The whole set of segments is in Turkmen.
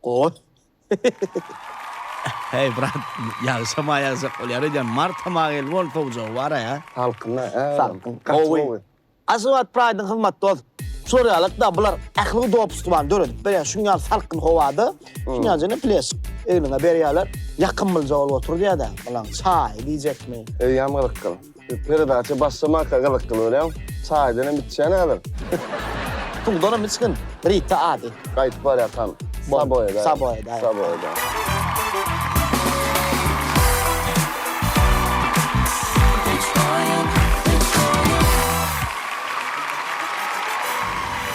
Gowy. Heý brat, ýagşama ýazjak bolýar öýdýän, mart tama geldi bol sowjagy bara ýa. Salkynda hä. Salkyn. Gaty gowy. Aşgabat Pride-yň hyzmat dos. Şurýalyk da bular ähligi dopustlybany döredip berýär şuň ýaly salkyn howada şuň ýaly jene pleş egniňe berýärler ýakymlyja bolup otur diýýädä bulaň çaýy diýjekmi. Öýem gyzykly. Peredaça başlamanka gyzykly görýän. Çaýdan hem içýän häzir. Puldan hem içgin. Rita ady. Gaýdyp barýarkam. Saboýada. Saboýada. Saboýada.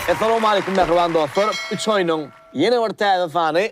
Essalowmaleýkum mähriban dostlar. Üç oýnuň ýene bir täze sany.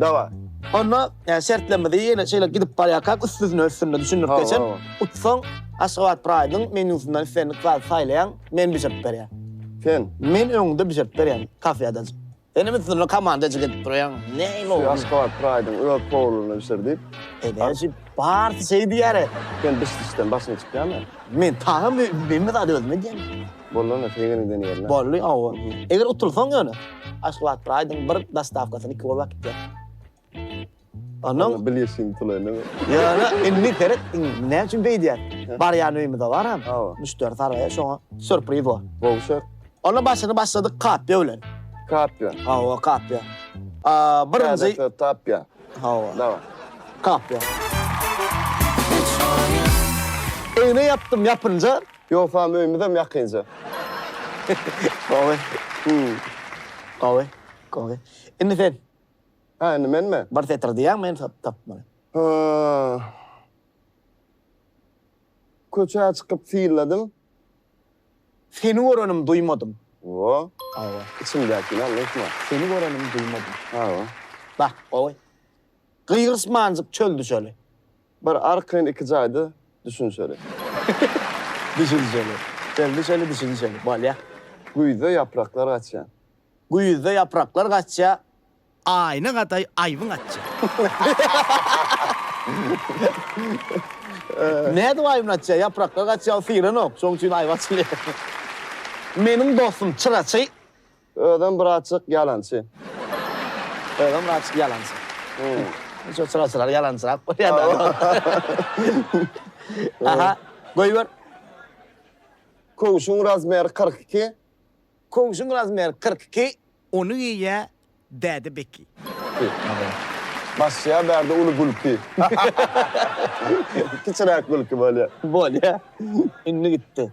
Daway. Onda yani şertlerimizi yine şeyle gidip barýarkak üstüne üstüne düşündirip geçen. Utsaň Aşgabat Pride'yň menüsünden istendik zat saýlaýaň, men bişirip berýän. Sen? Men öňde bişirip berýän kafeýada. Sen hem üstüne komandajyk edip durýaň. Näme o? Aşgabat Pride'yň öz powluny bişir diýip. Ebeji bar şey diýýär. Sen bişdişden başyň çykýarmy? Men taýam men zat özüm edýän. Boldy onda segir eden ýerler. Boldy owo. Eger utulsaň ýöne. Aşgabat bir aýdyň bir dostawkasyny iki bolup äkitýär. Ondan Bil ýeşiň utulaýyny. Ýöne indi seret indi näme üçin beýdýär. Barýan öýümize baram. Hawa. Müşderi saraýar şoňa sýurpriz bor. Gowşak. Onda başyny başladyk kapýa bilen. Kapýa. Hawa kapýa. A birinji Käbäsi tapýa. Hawa. Daway. Kapýa. Egne ýapdym ýapynja Ýogsam öýümizem ýakynja. Gowy. Gowy. Gowy. Indi sen. Hä, indi menmi? Bir setir diýýäň, men tapmaly. Köçä çykyp syýladym. Seni görenim duýmadym. Wo. Gowy. Içiňdäkini aýtma. Seni görenim duýmadym. Gowy. Bak, gowy. Gygyrsmanjyk çöl düşeli. Bir arkaýyn iki jaýda düşünşeli. Düşünşeli. Belli şeli düşünşeli. Bolýa. Güýzde ýapraklar gaçýa. Güýzde ýapraklar gaçýa, aýna gadaý aýbyň atýa. Nädip aýbyny atýa? Ýapraklar gaçýa, ol syranok. Şoň üçin aýby açylýa. Meniň dostum çyraçy Özem birazjyk ýalançy. Özem birazjyk ýalançy. Şo çyrasylary ýalançyrak bolýar-da. Aha, goýber. Köwşüň razmeri kyrk iki. Köwşüň razmeri kyrk iki. Ony geýýä Däde Beki. Başlaýar bärde uly gülki. Kiçiräk gülki bolýar. Bolýar. Indi gitdi.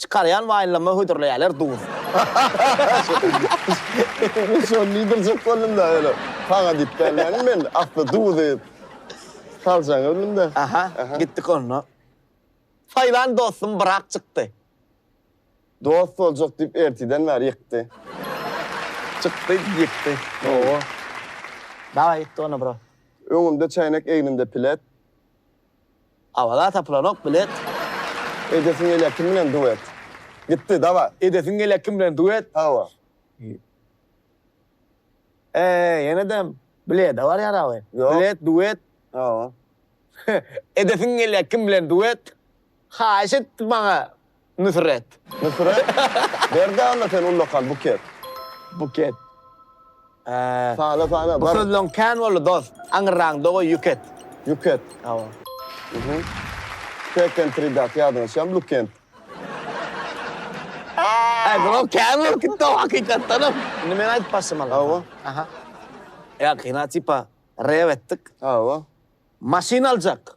Çykarýan waýnlama hödürleýäler duz. Men şony diýdirjek boldumda öyle saňa diýip gelmedim men asly duzy saljaň öňünde. Aha gitdik onda. Saýlan dostum brak çykdy. Dost boljak diýip ertiden bäri ýykdy. Çykdy ýykdy. Owo. Daway ýykdy onda bro. Öňümde çäýnek egnimde pilet. Awaza tapylanok bilet. Edesiň gelýä kim bilen duet. Gitdi daway. Edesiň gelýä kim bilen duet. Hawa. Eee ýenedem bilede barýar awy. Ýok. Bilet duet. Hawa. Edesiň gelýä kim bilen duet. Haýyş etdi maňa Nusret. Nusret. Berde Alla sen ullakan buket. Buket. Hää. Sana sana. Bu sözleň kän boldy dos. Aňyrraňda goý ýuket. Ýuket. Hawa. Uhuh. Peken tridat ýadyňa düşýämi lukent. Äý bro kän bolup gitdi o hakykatdanam. Indi men aýdyp başlamaly. Hawa. Aha. Ýa kina tipa rew etdik. Hawa. Maşyn aljak.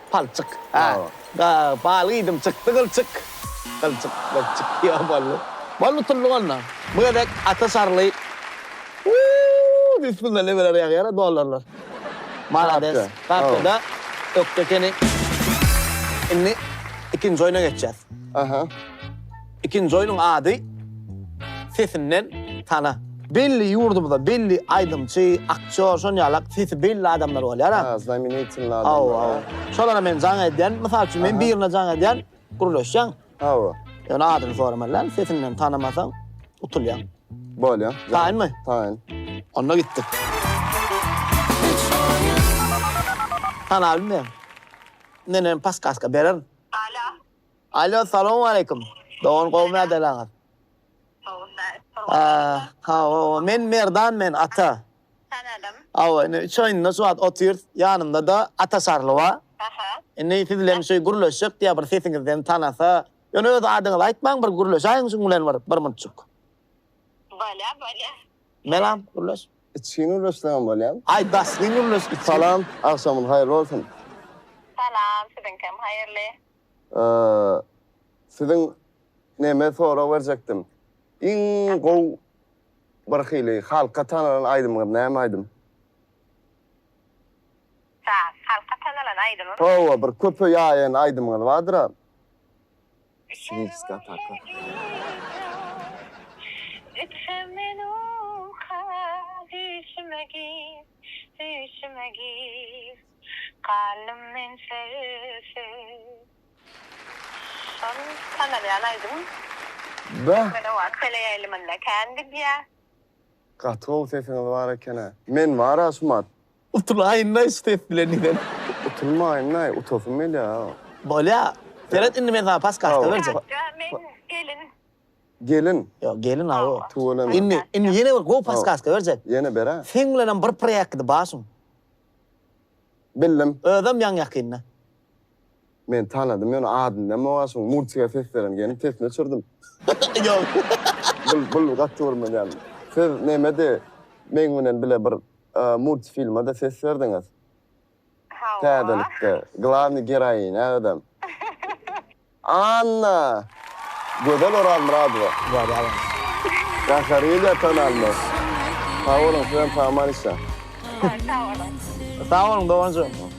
Palçyk. A. Ga, balyk iýdim, çykdy gylçyk. Gylçyk, gylçyk, ýa boldy. Boldy, utuldyk onda. Bu gezek Ata Şarly. Uuu, bismilla, nemeler ýagýar-a, dollarlar. Malades, gapjada ökde ekeni. Indi ikinji oýna geçýäs. Aha. Ikinji oýnuň ady Sesinden tana. Belli ýurdumyzda belli aýdymçy, aktýor, şonuň ýalak sesi belli adamlar bolýar a. Ha, znamenitelnyý adamlar. Hawa, hawa. Şolara men jaň edýän, mysal üçin men birine jaň edýän, gürleşýän. Hawa. Ýöne adyny soramanlaň, sesinden tanamasaň utulýaň. Bolýa. Taýynmy? Taýyn. Onda gitdik. Tanabilmeýän. Menem paskaska bererin. Alo. Allo salowmaleýkim dogan gowymy ýagdaýlaňyz. Hawa men Merdan men Ata. Tanadym. Hawa indi üç oýunda şu wagt otyrs ýanymdada Ata Şarly bar. Aha. Indi siz bilen şeý gürleşjek diýä bir sesiňizden tanasa ýöne öz adyňyzy aýtmaň bir gürleşäýiň şuň bilen bir bir munçuk. Bolýa bolýa. Melam gürleş. Içgin gürleşsegem bolýar. Aý basgyn gürleş. Salam agşamyz haýyrly bolsun. Salam siziňkem haýyrly. Siziň neme sorag berjekdim. Iň gowy bir hili halka tanalan aýdymyňyz näme aýdym? Saz. Halka tanalan aýdymym. Hawa bir köpe ýaýan aýdymyňyz bardyra. Şirinska ataka. Gitsem men uka düýşüme gir, düýşüme gir. Galdym men sesiz. Şol tanalýan aýdym. Beh. Türkmene wagt sele ýaýlymynda kän gidýä. Gaty gowy sesiňiz bar ekena. Men bar Aşmat. Utulayynlaý şu ses bilen diýsene. Utulmaýynlaý utasym gelýär. Bolýa. Seret indi men saňa paskasta berjek. Ýa men gelin. Gelin. Ýok gelin aw. Tüweleme. Indi indi ýene bir gowy paskaska berjek. Ýene ber-ä. Seň bilenem bir proýekt gidip barşyn. Bildim. Özem ýaň ýakynda. Men tanadym ýöne adyny näme oa şuň multika ses beren gelin sesini öçürdim. Ýok. Bul bul gaty görmeýän. Siz nämedi meň bilen bile bir multifilmada ses berdiňiz. Hawa. Täzelikde. Glavny geroinä özem. Anna! Gözel Orazmyradowa! Wada alyň! Gahariýa Tanalmaz! Sag boluň, siz hem saman işe! Sag boluň! Sag boluň, doganjygym!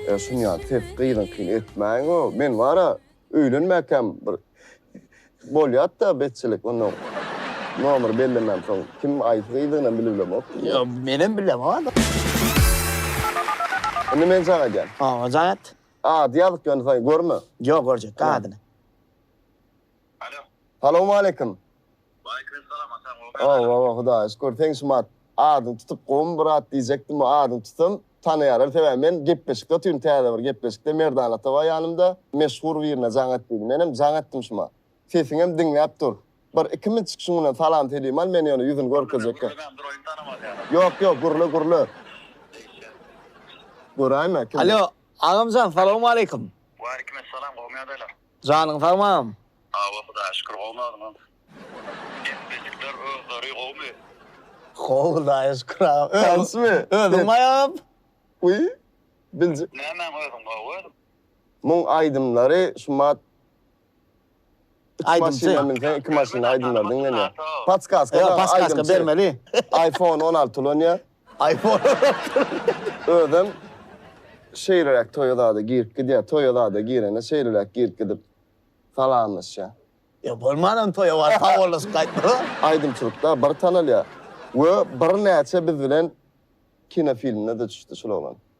E, şuny ýaly ses gyzyňkyny etmäýiň o, men bar-a, öýlenmäkäm bir bolýat-da betjilik, onda nomer bellemän soň kim aýsy gyzdygyny bilip bilemok. Ýo, menem bilemok-a. Indi men jaň edýän. Howwa, jaň et! Ady ýazyk ýöne soň görme. Ýok görjekdi adyny. Alo. Salowmaleýkim. Waleýkim salam Hasan gowymy ýagdaýlar. Ow ow Hudaýa şükür seň şumat adyňy tutup gowumy brat diýjekdim we adyňy tutsam tanaýarlar sebäbi men gepleşikde otyryn täze bir gepleşikde Merdan ata bar ýanymda meşhur birine jaň etdiydi menem jaň etdim şuma. Sesiňem diňläp dur. Bir iki minut çykyşyň mundan salam selim al men ýöne ýüzüni görkezjekka. Ýok ýok gürle gürle. Göräýme kim. Alo agamjan salowmaleýkim. Waleýkim essalam gowmy ýagdaýlar. Janyň sagmy agam. Hawa hudaýa şükür gowmy özüňem. Epbejikler özleri gowmy. Gowy hudaýa şükür agam. Tansmy. Özüň baý agam. Uý biljik. Nämäň özüň gowy. Muň aýdymlary şumat Iki maşyna minseň iki maşyna aýdymlar diňlenýär. Patskaska bar aýdymçy. Aýfon on alty ulanyýar. Özem şeýleräk toýa zada girip gidýär. Toýa zada girende şeýleräk girip gidip salamlaşýar. Ýa bolmanam toýa baryp sawollaşyp gaýtmaga. Aýdymçylykda bir tanalýar we birnäçe biz bilen kinofilmde-de çyşdy şul oglan.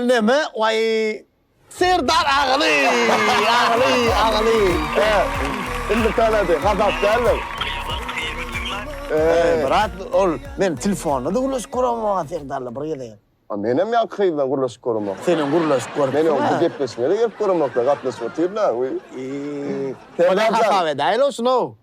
Neme way Serdar agyly agyly agyly he indi tanady hasap däldir. Gyýadan gyýymy synlap. Eý brat ol men telfonda da gürleşip göremok Serdarla bir gezegem. A menem ýaňky gyzdan gürleşip göremok. Senem gürleşip görüpsiň. Men ýok bu gepleşige de gelip göremok gatnaşyp otyr da. Eý. Serdar jan. Hasap edäýeli şuny.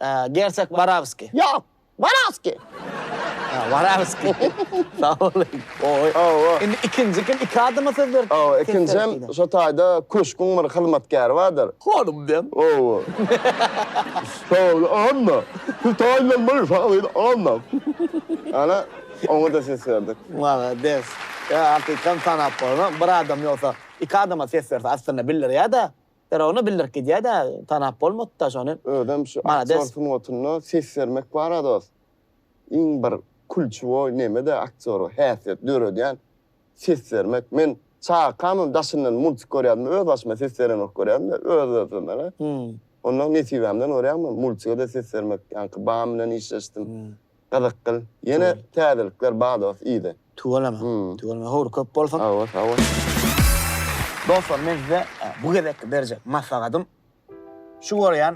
Ä, gersek Barawskiý. Ýok, Warawskiý. Ä, Warawskiý. Sag boluň. Oý, oý. Indi ikinji kim? Iki adama söz berip. Oý, ikinjem şo taýda köşgüň bir hyzmatkäri bardyr. Honym diýen. Oý. Şol Anna. Şu taýdan bir şahyr Anna. Ana, oňa-da ses berdik. Malades. Ýa, hakykatdan tanap bolna. Bir adam ýogsa, iki adama ses berse aslynda bildirýä-dä. Ýaragynda bildirip gidýä dä tanap bolmady da şony. Özem şu aktýor sungatynda ses bermek bara dost iň bir kulçuwoý nemede aktýora häsiýet döredýän ses bermek men çakamam daşyndan multik görýärdim öz başyma ses berenok görýärdim-de öz özümeme onda nesibämden görýärdim multigede ses bermek ýaňky bam bilen işleşdim Gyzykgyl ýene täzelikler bar dos yzy. Tüweleme tüweleme höwri köp bolsun. Sagbol sagbol. Dostlar men size bu gezekki berjek maslahatym şu görýän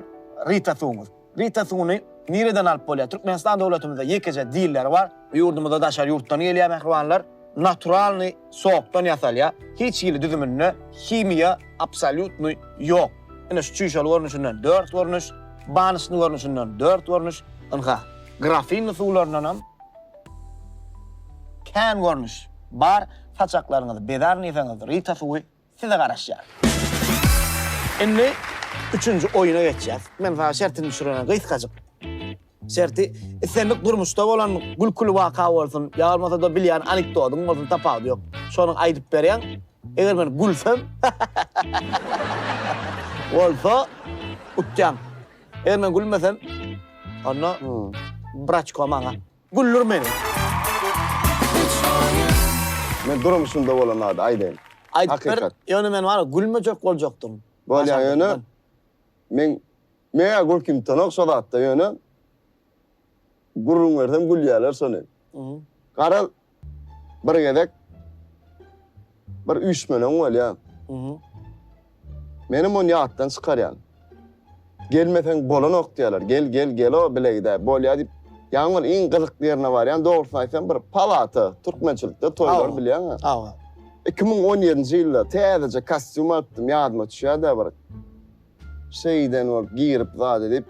Rita suwuňyz. Rita suwuny nireden alyp bolýar? Türkmenistan dowletimizde ýekeje diller bar. Ýurdumyza daşary ýurtdan gelýär mähribanlar. Naturalnyý. Sokdan ýasalýar. Hiç hili düzüminde himiýa absolýutnyý ýok. Ine şu çüýşeli görnüşinden dört görnüş, banişni görnüşinden dört görnüş, ynha, grafinli suwlaryndanam kän görnüş bar. Saçaklaryňyzy bezar niseňiz, rita suwy size garaşýar. Indi üçünji oýuna geçýäs. Men saňa şertini düşürerin, gysgajyk. Şerti, islendik durmuşda bolan gülküli waka bolsun, ýa bolmasa-da bilýän anekdotyň bolsun, tapawudy ýok. Şony aýdyp berýäň. Eger men gülsem, bolsa utýaň. Eger men gülmesem, onda braçko maňa Güldir meni. Men durmuşymda bolan zady aýdaýyn. Aýdyp ber, ýöne men wara gülmejek boljakdym. Bolýa ýöne men meňä gülkimtanok şo zatda ýöne gürrüň bersem gülýäler şony. Garaz Bir gezek bir üýşmeleň bolýar. Meni muny ýatdan çykarýan. Gelmeseň bolanok diýýärler. Gel, gel, gelo bile gidäý. Bolýar diýip, ýaňy bir iň gyzykly ýerine barýan. Dogrusyny aýtsam, bir palata, türkmençilikde toýlar bilýäňä. Hawa. Iki müň on ýedinji ýylda täzeje kostýum alypdym, ýadyma düşýär-dä bir. Şeýden bolup girip zady diýip,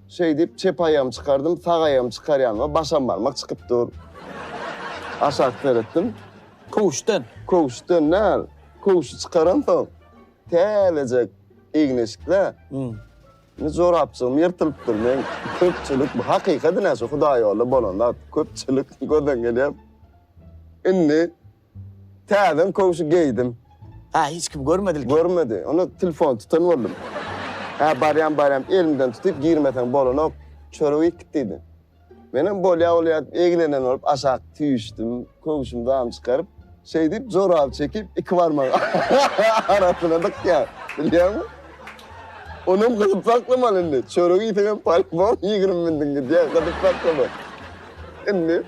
Şeýdip, çep aýagymy çykardym, sag aýagymy çykarýan we başam barmak çykyp dur. Aşak seretdim. Köwüşden? Köwüşden däl. Köwüşi çykaramsoň, täzejek egin-eşikle. Indi jorapjygym ýyrtylypdyr. Men köpçülik, bu hakykat ine şu hudaýýolda bolan zat. Köpçülik gözden gelýär. Indi Täzem köwşi geýdim. Hä, hiç kim görmedilki? Görmedi. Onda telefony tutan boldum. Hä, barýan barýan elimden tutyp girmeseň bolanok, çörek iýkit diýdi. Menem bolýa bolýa diýip eglenen bolup aşak süýşdim, köwşümi dam çykaryp, şeýdip joraby çekip iki barmagy arasyna dykýan, bilýäňmi? Onam gyzyp saklamaly indi. Çörek iýseňem polybom ýigrimi mündüň gidýä, gyzyp saklama. Indi.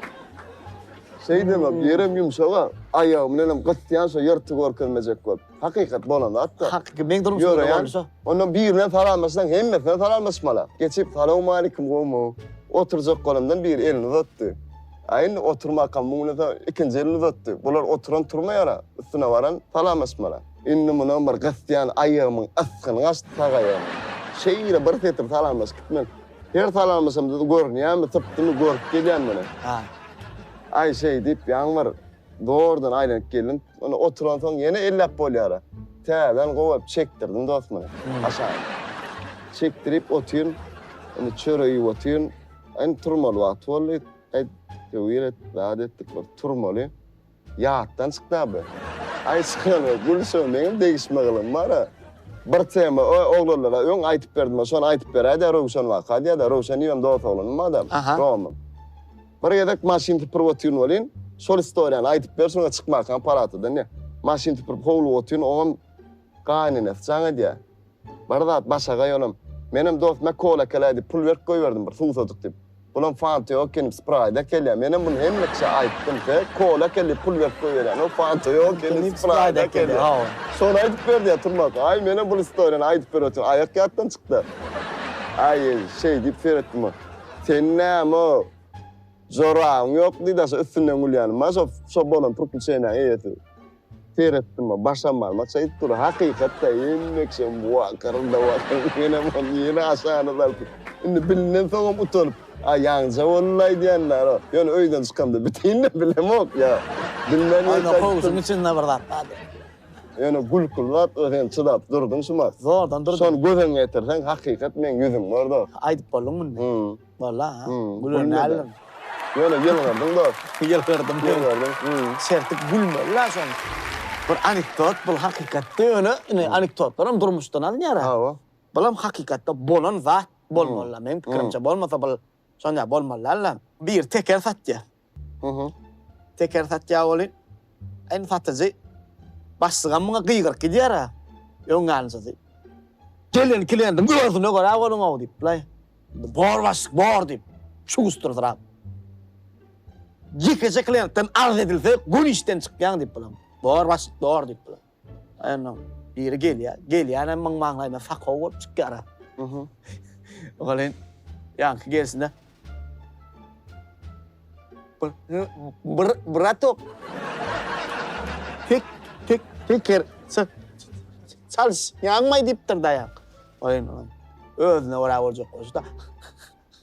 Şeý deme, bu ýerem ýumşag-a. Aýagy bilenem gysýan şo ýyrty görkezmejek bolup. Hakykat bolan zat-da. Hakyky, meň durmuşym şeýle boldy şo. Onda birine salamlaşsaň, hemmesine salamlaşmaly. Geçip, Salawmaleýkim, gowmy? Oturjak bolandan biri elini uzatdy. A indi oturmakam muňlasa ikinji elini uzatdy. Bular oturan turmaýar-a, üstüne baran salamlaşmaly. Indi munam bir gysýan aýagymyň ysgyny gaçdy sag aýagymyň. Şeýle bir setir salamlaşyp gitmeli. Her salamlaşamyzda-da görünýärmi, sypdymy, görüp gelýän muny. Ha. Aý, şeý diýip, ýaňy bir zordan aýlanyp geldim. Indi oturansoň ýene elläp bolýar-a. Täzeden gowy çekdirdim dost muny, aşagyny. Çekdirip otyryn. Indi çörek iýip otyryn. Indi turmaly wagty boldy. Aýt, töwir et, zat et diýip, bir turmaly. Ýatdan çykda bu. Aý çykany Gülşo meňem degişme gylym bara. Bir tema o oglanlara öň aýtyp berdimä şony aýtyp beräýdä Röwşen waka diýädä Röwşen imem dos oglanymyň adam Romyň. Bir gezek maşyn süpürip otyryn welin şol istoriýany aýtyp ber şoňa çykmakan palatadan diýä. Maşyn süpürip howluga otyryn oňam gaýynenesi jaň edýä. Bir zat başagaý onam. Menem dostuma kola ekele diýip pul berip goýberdim bir suwsajyk diýip. Bulam fanta ýok ekeni spraýda ekelýär. Menem muny hemme kişä aýtdym. He, kola ekele diýip pul berip goýberýän. O fanta ýok ekeni spraýda ekelýär. Şony aýdyp ber diýýär Turmak. Aý menem bul istoriýany aýdyp ber otyryn. Aýak ýatdan çykdy. Aý şeý diýip seretdim. Seniň näme jorabyň ýokmy diýdi aşa üstünden gülýänim. Maşa şo bolan prikliçeniýaň eýesi. Seretdim-ä, başam barma çaýyp dur. Hakykatda enekjem bu-a, gyryldap-a, menem ony ýene aşagynda salsyn. Indi bilinensoňam utanyp, A ýaňja boldy-la aýdýanlary. Ýöne öýden çykamda biteýin-le, bilemok, ýa. Bilmän ýene çaýyp durun. Ýöne kowşuň içinde bir zat bardy. Ýöne gülküli zat-la, sen çydap durduň şumat. Zordan durdum. Şony gözüňe getirseň, hakykat meň ýüzüm bor-da. Aýdyp bolduňmy indi? Hum. Bolla ha. Gülen däldim. Ýöne ýylgyrdyň dos. Ýylgyrdym. Ýylgyrdym. Şertik gülmeli la şoň. Bir anekdot bul hakykatda ýöne ine anekdotlaram durmuşdan alynýar. Hawa. Bulam hakykatda bolan zat bolmaly la meň pikirimçe bolmasa bul şonda bolmaly däl la. Biri teker satýar. Teker satýar welin, indi satyjy başlygam muňa gygyryp gidýär-ä, öň ýanjysy. Gelen kliendiň özüne görä boluň-ow diýip, bulaý, bor başlyk, bor diýip, çugusdyrysyrap. Ýekeje klientden arz edilse, göni işden çykýaň diýip, bulaý, bor başlyk, bor diýip, bulaý. Onuň biri gelýär. Gelýänem müň maňlaýyna sakow bolup çykýar. Welin, ýaňky gelşinde, Bratok, teker çalyş, ýanmaý diýipdir-dä ýaňky. Welin, özüne görä boljak bolşy-da.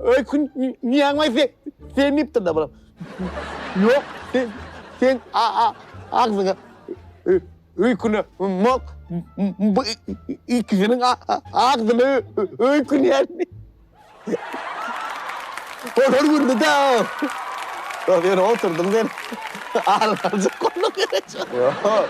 Öý kün niýaňlaý sen, sen diýipdir-de bula. Ýok, sen, sen agzyňa öýküne mok, bu ikisiniň agzyna öýkün ýerdi. Olar güldi-de. Ýöne oturdym sen, alyp galjak boldum. Ýok.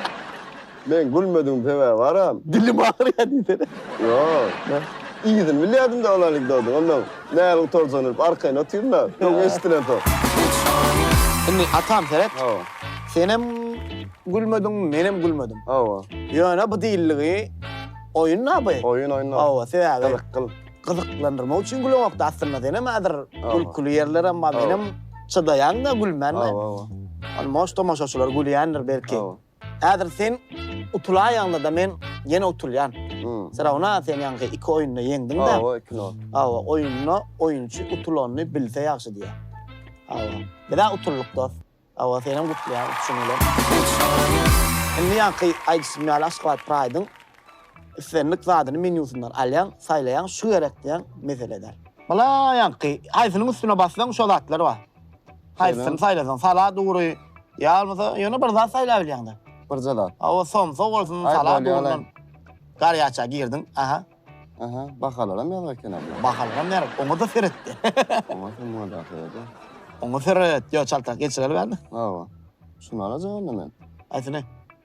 Men gülmedigim sebäbi aram. Dilim agyrýar diýsene. Ýok. Yzyny bilýärdim-de ol anekdodyň. Onnoň näl gutarjagyn bilip arkaýyn otyryn-a. Soň eşidilensoň. Indi atam seret. Hawa. Senem gülmediň, menem gülmedim. Hawa. Ýöne bu diýildigi oýun-da bu. Oýun, oýun. Hawa, sebäbi. Gyzyk, gyzyk. Gyzyklandyrmak üçin güleňok-da aslynda. Senem häzir gülküli ýerlerem bar. Menem çydaýan-da gülmän-de. Hawa, hawa. Almos tomaşaçylar gülýändir belki. Hawa. Häzir sen utulaýaňda-da men ýene utulýan. Firawuna sen ýaňky iki oýunda ýeňdiň-de. Hawa, iki nol. Hawa, oýunda oýunçy utulanyny bilse ýagşy diýýär. Hawa. Biz-ä utuldyk dos. Hawa, senem gutlaýan utuşyň bilen. Indi ýaňky aýdyşym ýaly Aşgabat Pride-yň islendik zadyny menýusyndan alýaň, saýlaýaň, şu gerek diýýäň, mesele däl. Bala ýaňky haýsynyň üstüne bassaň şo zatlar bar. Haýsyny saýlasaň, salat ugry, Ýa bolmasa, ýöne bir zat saýlabilýäň-de. Birje zat. Hawa, somsa bolsun, Aý, salam bolýa, bolsun. alaý. Garýaça girdiň, aha. Aha, bahalaram ýazga ekeni bu. Bahalaram ýar, oňa-da seretdi. Oňa kim bolýar söýedi? Oňa seret, ýa çaltak geçireli bäri. Hawa. Şuny alajak onda men. Haýsyny?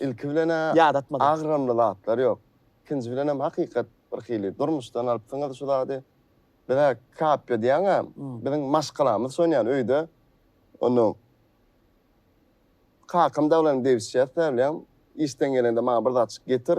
Ilki bilen-ä agramly zatlar ýok. Ikinji bilenem hakykat birhili. Durmuşdan alypsyňyz şu zady. Biz-ä kapýa diýýän-ä, biziň maşgalamyz şony ýaly öýde. Onda kakam dagylaryny degişýäs-ä bilen. Işden gelende maňa bir zatjyk getir.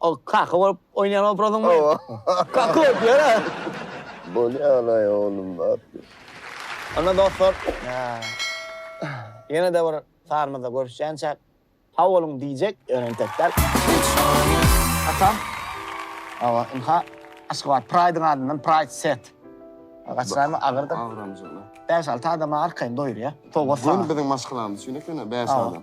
Ol kaka bolup oýnaýan obrazyňmy? Hawa. Kaka bolup ýöre. Bolýan-aý oglum zat ýok. Onda dostlar, ýene-de bir sanymyzda görüşýänçäk sag boluň diýjek, ýöne entek däl. Atam, hawa, ynha, Aşgabat Pride-yň adyndan Pride Set. Gaçyraýma, agyrdyr. Agyrmajak, ynha. Bäş-alty adama arkaýyn doýurýar. Sowgat saňa. Göni biziň maşgalamyz üçin ekeni, bäş adam.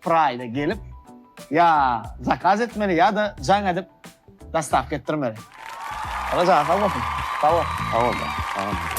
Pride gelip ya zakaz etmeli ya da jaň edip dostavka etdirmeli. Aga jana sag bolsun. Sag bol. Sag bol. Sag bol.